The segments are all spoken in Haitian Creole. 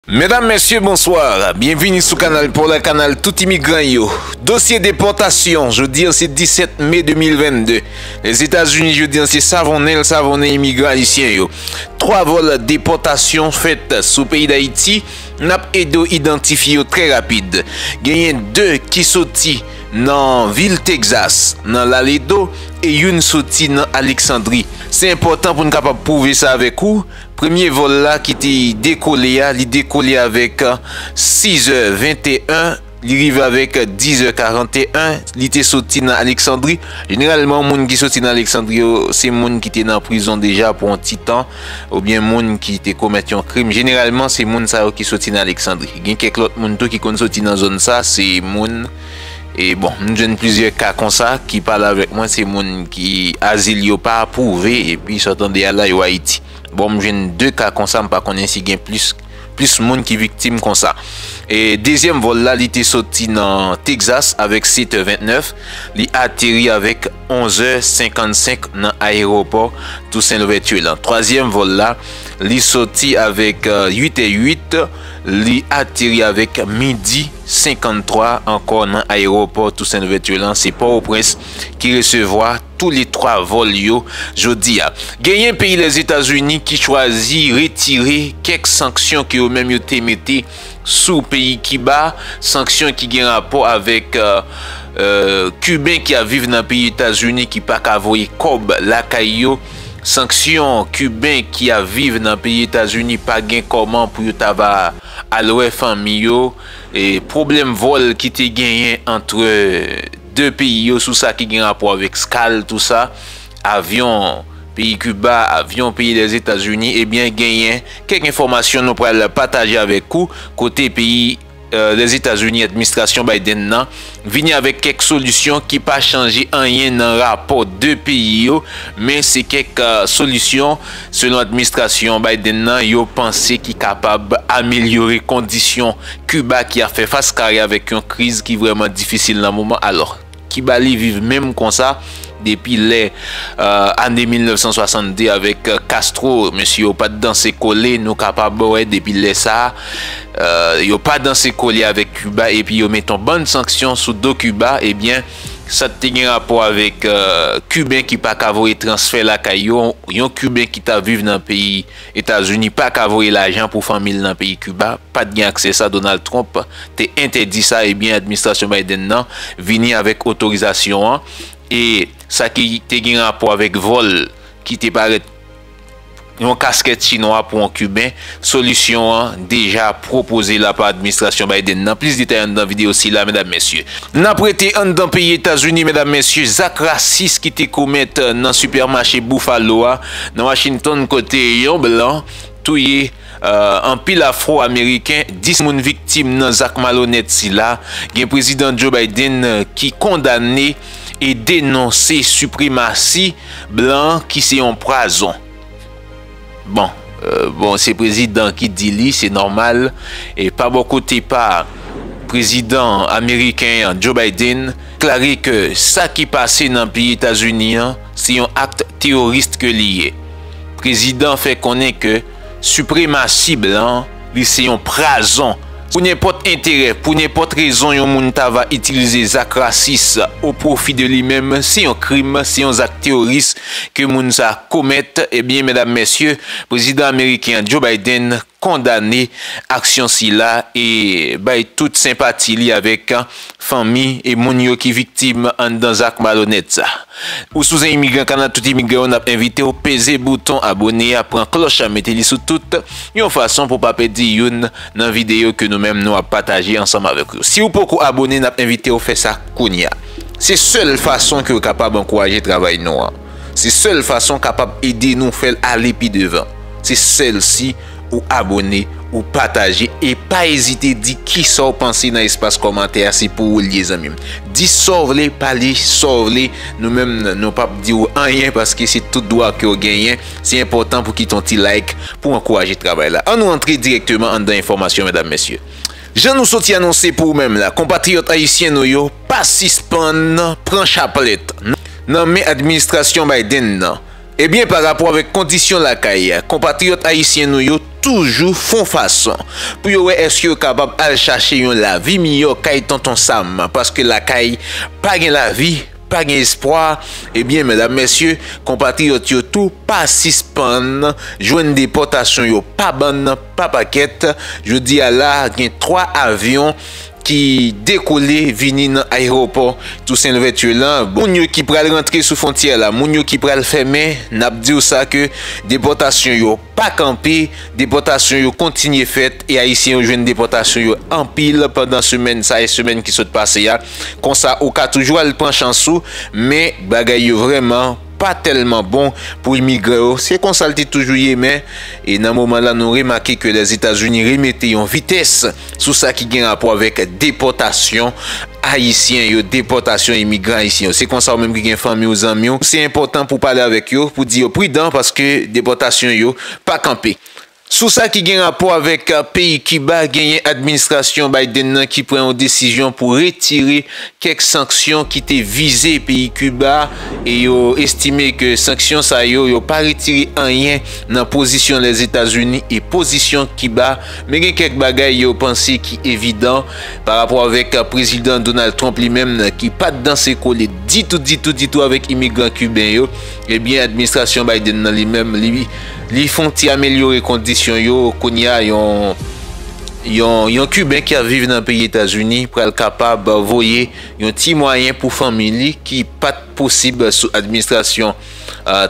Medam, Mesye, Bonsoir! Byenvini sou Kanal Pòl, Kanal tout imigran yo. Dosye depòtasyon, jodi an se 17 me 2022. Lèzetazini jodi an se savonnen l savonnen imigran ayisyen yo. 3 vòl depòtasyon fèt sou peyi Dayiti, n ap ede w idantifye yo trè rapid. Genyen 2 ki soti nan vil Texas, nan Laledo, e youn soti nan Alexandrie. Se enpòtan pou n kapab pwouve sa avèk ou, Premye vòl la ki te dekole a, li dekole avèk 6 è 21, li rive avèk 10 è 41, li te soti nan Aleksandri. Jeneralman moun ki soti nan Aleksandri yo, se moun ki te nan prizon deja pou yon ti tan, oubyen moun ki te komèt yon krim. Jeneralman se moun sa yo ki soti nan Aleksandri. Gen kèk lòt moun tou ki konn soti nan zòn sa, se moun. E bon, m jwenn plizyè ka konsa ki pale avèk mwen se moun ki azil yo pa apwouve epi sa w tande a la yo Ayiti. Bon m jwenn 2 ka konsa m pa konnen si gen plis plis moun ki viktim konsa. E dezyèm vòl la li te soti nan Texas avèk 7 è 29, li ateri avèk 11 è 55 nan ayewopò Toussaint Louverture lan. Twazyèm vòl la li soti avèk 8 è 8, li ateri avèk midi. 53 ankò nan ayewopò Toussaint Louverture lan se Pòtoprens ki resevwa tou le 3 vòl yo jodi a. Genyen peyi Lèzetazini ki chwazi retire kèk sanksyon ke yo menm yo te mete sou peyi Kiba, sanksyon ki gen rapò avèk Kiben ki ap viv nan peyi Etazini ki pa ka voye kòb lakay yo, sanksyon Kiben ki ap viv nan peyi Etazini pa gen kòman pou yo ta va. Al wè fanmi yo. Pwoblèm vòl ki te genyen antre 2 peyi yo sou sa ki gen rapò avèk skal tou sa, avyon peyi Kiba, avyon peyi Lèzetazini, ebyen genyen kèk enfòmasyon nou pral pataje avèk ou kote peyi Lèzetazini, administrasyon Biden nan vini avèk kèk solisyon ki pa chanje anyen nan rapò 2 peyi yo, men se kèk solisyon, selon administrasyon Biden nan, yo panse ki kapab amelyore kondisyon Kiba ki ap fè fas kare avèk yon kriz ki vrèman difisil nan moman. Alò, Kiba li viv menm konsa? Depi lè ane 1962 avèk Castro, mesye yo pat danse kole, nou kapab wè depi lè sa, yo pa danse kole avèk Kiba epi yo met yon bann sanksyon sou do Kiba, ebyen sa t te gen rapò avèk Kiben ki pa ka voye transfè lakay yo, yon Kiben ki ta viv nan peyi. Etazini pa ka voye lajan pou fanmi l nan peyi Kiba, pat gen aksè sa Donald Trump te entèdi sa ebyen administrasyon Biden nan vini avèk otorizasyon an e sa ki te gen rapò avèk vòl ki te parèt yon kaskèt chinwa pou yon kiben solisyon an deja pwopoze la pa administrasyon Biden nan plis detay anndan videyo sila medam mesye. Nap rete anndan peyi Etazini medam mesye zak rasis ki te komèt nan sipèmache Buffalo a Nan Washington kote yon blan touye anpil afro ameriken, 10 moun viktim nan zak malonèt sila, gen Prezidan Joe Biden ki kondane e denonse sipremasi blan ki se yon pwazon. Bon, bon se prezidan ki di li, se nòmal. E pa bò kote pa prezidan ameriken an, Joe Biden, deklare ke sa ki pase nan peyi Etazini an, se yon akt terorist ke li ye. Prezidan fè konnen ke sipremasi blan li se yon prazon pou nenpòt enterè, pou nenpòt rezon yon moun ta va itilize zak rasis o pwofi de li menm, se yon krim, se yon zak teroris ke moun sa komèt, ebyen medam mesye, Prezidan ameriken an Joe Biden kondane aksyon sila e bay tout senpati li avèk fanmi e moun yo ki viktim anndan zak malonèt sa. Ou sou zen imigran kanal tout imigran yo nap envitew peze bouton abone a pran klòch la mete li sou tout yon fason pou pa pèdi youn nan videyo ke nou menm nou ap pataje ansanm avèk ou siw poko abone nap envitew fè sa kounya se sèl fason kew kapab ankouraje travay nou an. Se sèl fason kapab ede nou fèl ale pi devan se sèl si ou abone ou pataje e pa ezite di kisaw panse nan espas kòmantè a se pou ou liye zanmim di Saw vle pale Saw vle nou menm nou pap diw anyen paske se tout dwa kew genyen se enpòtan pou kite yon ti like pou ankouraje travay la annou antre dirèkteman anndan enfòmasyon medam mesye. Jan nou soti anonse pou ou menm la, konpatriyòt ayisyen nou yo pa sispann pran chaplèt nan men administrasyon Biden nan, ebyen pa rapò avèk kondisyon lakay, konpatriyòt ayisyen nou yo toujou fon fason pou yo wè èske yo kapab al chache yon lavi miyò kay Tonton Sam, paske lakay pa gen lavi, pa gen espwa, ebyen medam mesye, konpatriyòt yo tou pa sispann jwenn depòtasyon yo pa bann. Pa pakèt, jodi a la gen 3 avyon ki dekole vini nan ayewopò Tousen Louvèti la. Moun yo ki pral rantre sou fwontyè a la, moun yo ki pral fèmen, n ap di w sa ke depòtasyon yo pa kanpe, depòtasyon yo kontinye fèt e ayisyen yo jwenn depòtasyon yo anpil pandan semèn sa e semèn ki sot pase a. Konsa ou ka toujou al pran chans ou men bagay yo vrèman. pa tèlman bon pou imigran yo, se konsa l te toujou ye men e nan moman lan nou remake ke Lèzetazini remete yon vitès sou sa ki gen rapò avèk depòtasyon Ayisyen yo, depòtasyon imigran Ayisyen yo. Se konsa ou menm ki gen fanmi ou zanmi ou, se enpòtan pou w pale avèk yo, pou w di yo pridan paske depòtasyon yo pa kanpe. Sou sa ki gen rapò avèk peyi Kiba, genyen administrasyon Biden nan ki pran yon desizyon pou retire kèk sanksyon ki te vize peyi Kiba e yo estime ke sanksyon sa yo, yo pa retire anyen nan pozisyon Lèzetazini e pozisyon Kiba. Men gen kèk bagay yo panse ki evidan pa rapò avèk Prezidan Donald Trump li menm ki pat danse kole ditou ditou ditou avèk imigran Kiben yo. Ebyen administrasyon Biden nan li menm li. Li fon ti amelyore kondisyon yo, kounye a yon yon kiben ki ap viv nan peyi Etazini pral kapab voye yon ti mwayen pou fanmi li ki pat posib sou administrasyon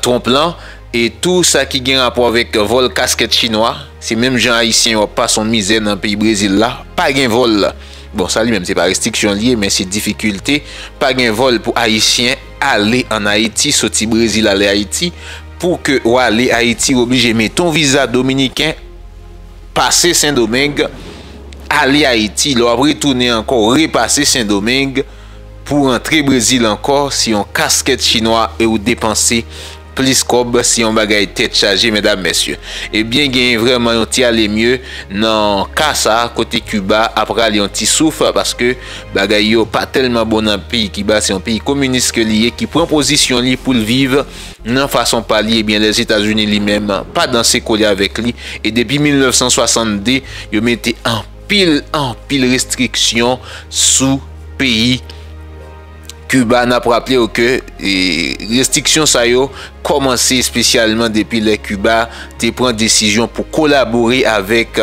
Trump lan e tou sa ki gen rapò avèk vòl kaskèt chinwa se menm jan ayisyen yo ap pase yon mizè nan peyi Brezil la pa gen vòl bon sa li menm se pa restriksyon li ye men se difikilte pa gen vòl pou ayisyen Ale an Ayiti, soti Brezil ale Ayiti, pou ke w ale Ayiti w oblije mete yon viza dominiken, pase Sendomeng, ale Ayiti, lè w ap retounen ankò w repase Sendomeng pou w rantre Brezil ankò, se yon kaskèt chinwa e w depanse Plis kòb se yon bagay tèt chaje medam mesye. Ebyen genyen vrèman yon ti ale mye nan ka sa kote Kiba ap rale yon ti souf paske bagay yo pa tèlman bon nan peyi Kiba se yon peyi kominis ke li ye ki pran pozisyon li pou l viv nan fason pa li ebyen Lèzetazini li menm pa danse kole avèk li e depi 1962 yo mete anpil anpil restriksyon sou peyi Kiba n ap raple w ke restriksyon sa yo kòmanse espesyalman depi lè Kiba te pran desizyon pou kolabore avèk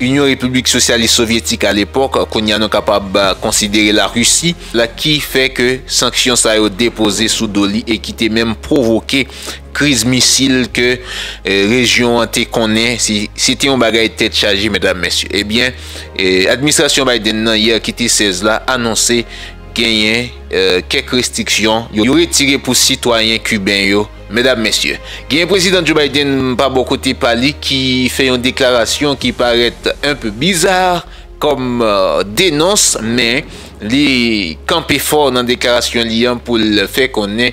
Inyon Repiblik Sosyalis Sovyetik alepòk, kounye a nou kapab konsidere Larisi, la ki fè ke sanksyon sa yo depoze sou do li e ki te menm pwovoke Kriz misil ke rejyon an te konnen, se te yon bagay tèt chaje medam mesye. Ebyen, administrasyon Biden nan yè ki te 16 la anonse genyen kèk restriksyon yo retire pou sitwayen kiben yo medam mesye. Genyen Prezidan Joe Biden pa bò kote pa li ki fè yon deklarasyon ki parèt enpe bizar. kòm denons men li kanpe fò nan deklarasyon li an pou l fè konnen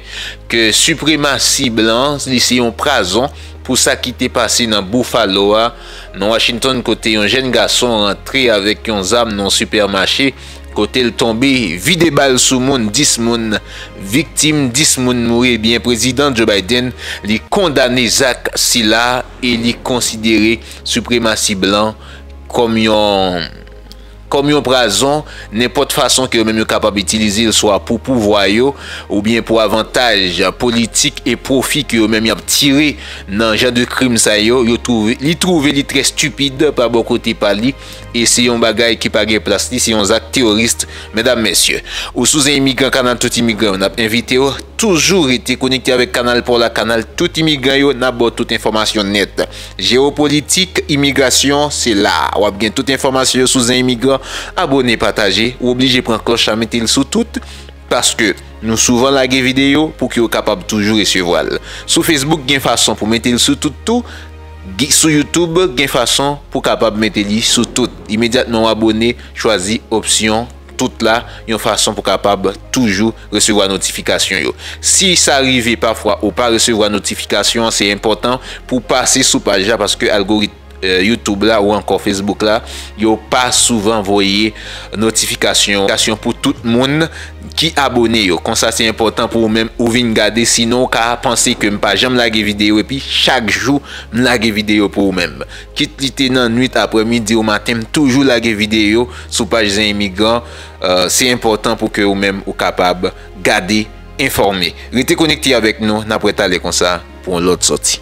ke sipremasi blan li se yon prazon pou sa ki te pase nan Buffalo a nan Washington kote yon jèn gason rantre avèk yon zam nan yon sipèmache kote l tonbe vide bal sou moun 10 moun viktim 10 moun mouri ebyen Prezidan Joe Biden li kondane zak sila e li konsidere sipremasi blan kòm yon kòm yon prazon nenpòt fason ke yo menm yo kapab itilize l swa pou pouvwa yo oubyen pou avantaj politik e pwofi ke yo menm y ap tire nan jan de krim sa yo, yo twouve li twouve li trè stupid pa bò kote pa li e se yon bagay ki pa gen plas li, se yon zak terorist medam mesye. Ou sou zen imigran kanal tout imigran yo n ap envite w toujou rete konekte avèk kanal pa w la kanal tout imigran yo n ap ba w tout enfòmasyon nèt. Jewopolitik imigrasyon se la a wap gen tout enfòmasyon yo sou zen imigran abone pataje ou oblije pran klòch la metel sou tout paske nou souvan lage videyo pou ke ou kapab toujou resevwal sou Facebook gen fason pou metel sou tout tou sou YouTube gen fason pou kapab mete li sou tout imedyatman ou abone chwazi opsyon tout la yon fason pou kapab toujou resevwa notifikasyon yo. Si sa rive pafwa ou pa resevwa notifikasyon an se enpòtan pou w pase sou paj la paske algorit YouTube la ou ankò Facebook la yo pa souvan voye notifikasyon pou tout moun ki abone yo. Konsa se enpòtan pou ou menm ou vin gade sinon ou ka panse ke m pa janm lage videyo epi chak jou m lage videyo pou ou menm. Kit li te nan nwit, aprè midi ou maten m toujou lage videyo sou paj zen imigran, se enpòtan pou ke ou menm ou kapab gade, enfòme. Rete konekte avèk nou, n ap wè talè konsa pou yon lòt sòti.